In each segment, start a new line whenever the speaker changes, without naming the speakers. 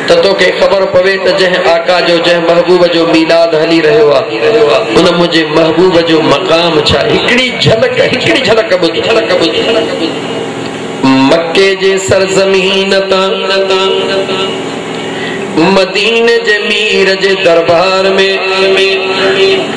ته توکي خبر پوي ته جنهن آقا جو جنهن محبوب جو ميلاد هلي رهيو آهي ان منهنجي محبوب جو مقام ڇا آهي هڪڙي جهلڪ هڪڙي جهلڪ ٻڌ مڪي جي سرزمين تان مديني جي مير جي دربار ۾.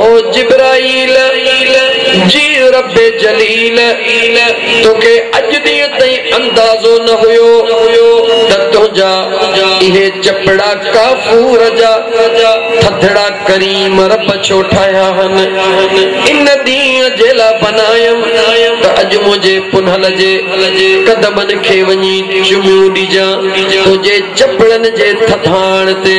او جبرائيل! جي رب جليل توکي اڄ ڏينهن تائين اندازو نه هيو ته تنهنجا اهي چپڙا ڪافور جا ٿڌڙا ڪريم رب ڇو ٺاهيا هن ان ڏينهن جي لا بنايم ته اڄ منهنجي پنهل جي قدمن کي وڃي چميون ڏجان تنهنجي چپڙن جي ٿڌاڻ تي.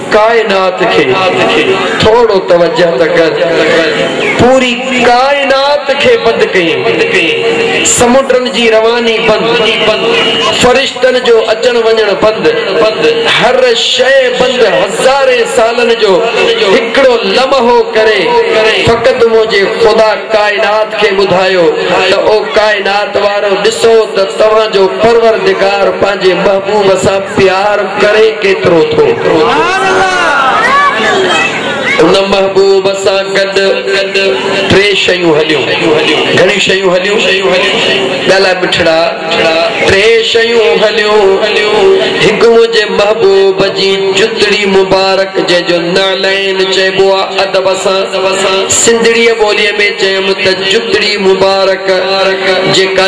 ڪائنات کي ٿورو توجه ته ڪر. پوري ڪائنات کي بند ڪيئين. سمنڊن جي رواني بند، فرشتن جو اچڻ وڃڻ بند، هر شيء بند، هزارين سالن جو هڪڙو لمحو ڪري فقط منهنجي خدا ڪائنات کي ٻڌايو ته او ڪائنات وارؤ ڏسو ته توهان جو پروردگار پنهنجي محبوب سان پيار ڪري ڪيترو ٿو. ان محبوب سان گڏ ٽي شيون هليون. گهڻيون شيون هليون. ڳالهاء مٺڙا. ٽي شيون هليون. هڪ منهنجي محبوب جي جتڙي مبارڪ جنهن جو نعلين چئبو آ ادب سان. سنڌڙيء ٻوليء ۾ چيم ته جتڙي مبارڪ جيڪا.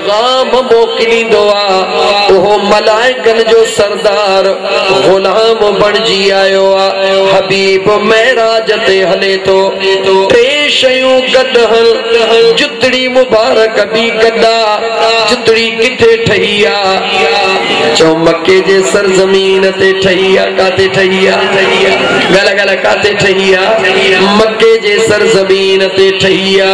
پيغام موڪليندو آ، اهو ملائڪن جو سردار غلام بڻجي آيو آ، حبيب معراج تي هلي ٿو، ٽي شيون گڏ هن جتڙي مبارڪ به گڏ آ، جتڙي ڪٿي ٺهي آ؟ چئو مڪي جي سرزمين تي ٺهي آ، ڪاٿي ٺهي آ؟ ڳالهاء ڳالهاء ڪاٿي ٺهي آ؟ مڪي جي سرزمين تي ٺهي آ.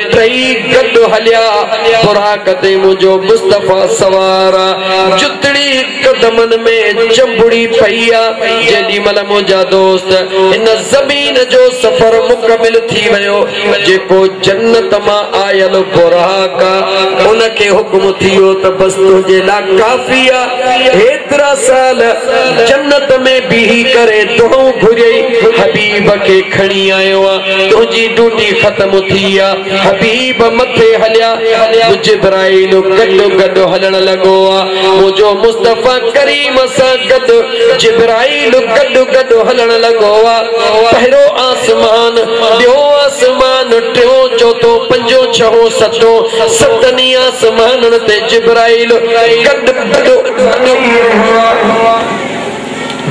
ٽئي گڏ هليا، براق تي منهنجو مصطفيٰ سوار آ، جتڙي قدمن ۾ چنبڙي پئي آ، جيڏي مهل منهنجا دوست هن زمين جو سفر مڪمل ٿي ويو، جيڪو جنت مان آيل براق آ، ان کي حڪم ٿيو ته بس تنهنجي لا ڪافي آ، هيترا سال جنت ۾ بيهي ڪري دعائون گهريئي، حبيب کي کڻي آيو آ. تنهنجي ڊوٽي ختم ٿي آ. حبيب مٿي هليا. جبرائيل گڏو گڏ هلڻ لڳو آ. منهنجو مصطفيٰ ڪريم سان گڏ جبرائيل گڏو گڏ هلڻ لڳو آ. پهريون آسمان، ٻيون آسمان، ٽيون، چوٿون، پنجون، ڇهون، ستون، ستن ئي آسمانن تي جبرائيل گڏو گڏ هلي رهيو آ.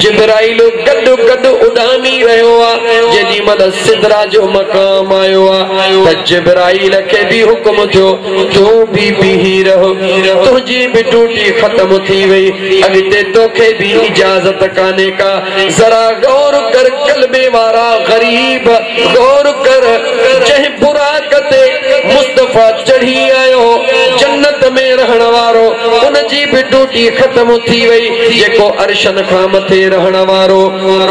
جبرائيل گڏ گڏ اڏامي رهيو آ، جيڏي مهل سدرا جو مقام آيو آ ته جبرائيل کي به حڪم ٿيو تون به بيهي رهه، تنهنجي به ڊوٽي ختم ٿي وئي، اڳتي توکي به اجازت ڪانهي ڪا، ذرا غور ڪر ڪلمي وارا غريب غور ڪر، جنهن براق تي مصطفيٰ چڙهي آيو، جنت ۾ رهڻ وارو، ان جي به ڊوٽي ختم ٿي وئي. جيڪو عرشن کان مٿي رهڻ وارو،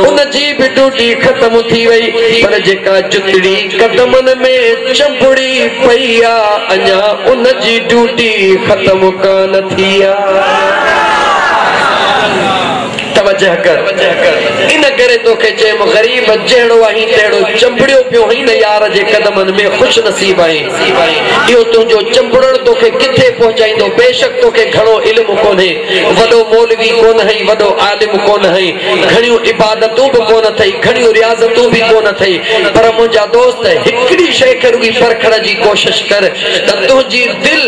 ان جي به ڊوٽي ختم ٿي وئي، پر جيڪا جتڙي قدمن ۾ چنبڙي پئي آ، اڃا ان جي ڊوٽي ختم ڪانه ٿي آ. توجه ڪر، ان ڪري توکي چيم، غريب جهڙو آهين تهڙو چنبڙيو پيو هئين نه يار جي قدمن ۾ خوش نصيب آهين. اهو تنهنجو چنبڙڻ توکي ڪٿي پهچائيندو، بيشڪ توکي گهڻو علم ڪونهي. وڏو مولوي ڪونه هئي، وڏو عالم ڪونه هئي، گهڻيون عبادتون به ڪونه اٿئي، گهڻيون رياضتون به ڪونه اٿئي، پر منهنجا دوست هڪڙي شيء کي رڳي پرکڻ جي ڪوشش ڪر ته تنهنجي دل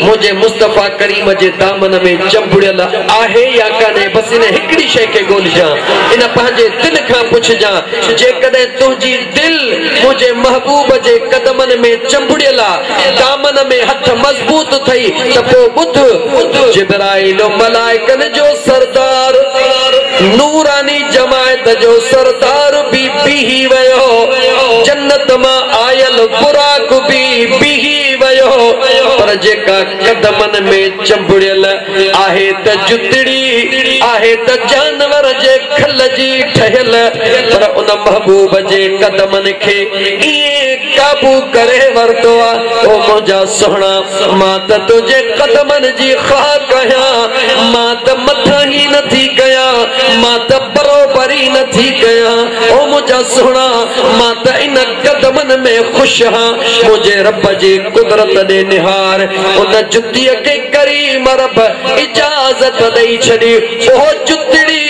منهنجي مصطفيٰ ڪريم جي دامن ۾ چنبڙيل آهي يا ڪانهي، بس ان هڪڙي شيء کي ڳولهجان، ان پنهنجي دل کان پڇجان، جيڪڏهن تنهنجي دل منهنجي محبوب جي قدمن ۾ چنبڙيل آ. دامن ۾ هٿ مضبوط ٿئي ته پوء ٻڌ، جبرائيل و ملائڪن جو سردار، نوراني جماعت جو سردار به بيهي ويو، جنت مان آيل براق به بيهي ويو، پر جيڪا قدمن ۾ چنبڙيل، آهي ته جتڙي آهي ته جانور جي کل جي ٺهيل پر ان محبوب جي قدمن کي ائين قابو ڪري ورتو آ او منهنجا سهڻا مان ته تنهنجي قدمن جي خاڪ آهيان مان ته مٿاهي نه ٿي ڪيان مان ته بروبري نه ٿي ڪيان او منهنجا سهڻا مان ته ان قدمن ۾ خوش هان منهنجي رب جي قدرت ڏي نهار ان جتيء کي ڪريم رب اجازت ڏئي ڇڏي اهو جتڙي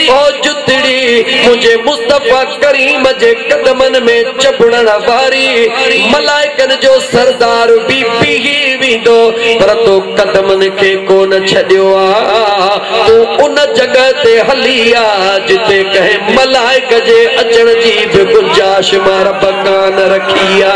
اهو جتڙي منهنجي مصطفيٰ ڪريم جي قدمن ۾ چنبڙڻ واري ملائڪن جو سردار به بيهي ويندو پر تو قدمن کي ڪونه ڇڏيو آ تون ان جڳهه تي هلي آ جتي ڪنهن ملائڪ جي اچڻ جي به گنجائش مان رب ڪانه رکي آ.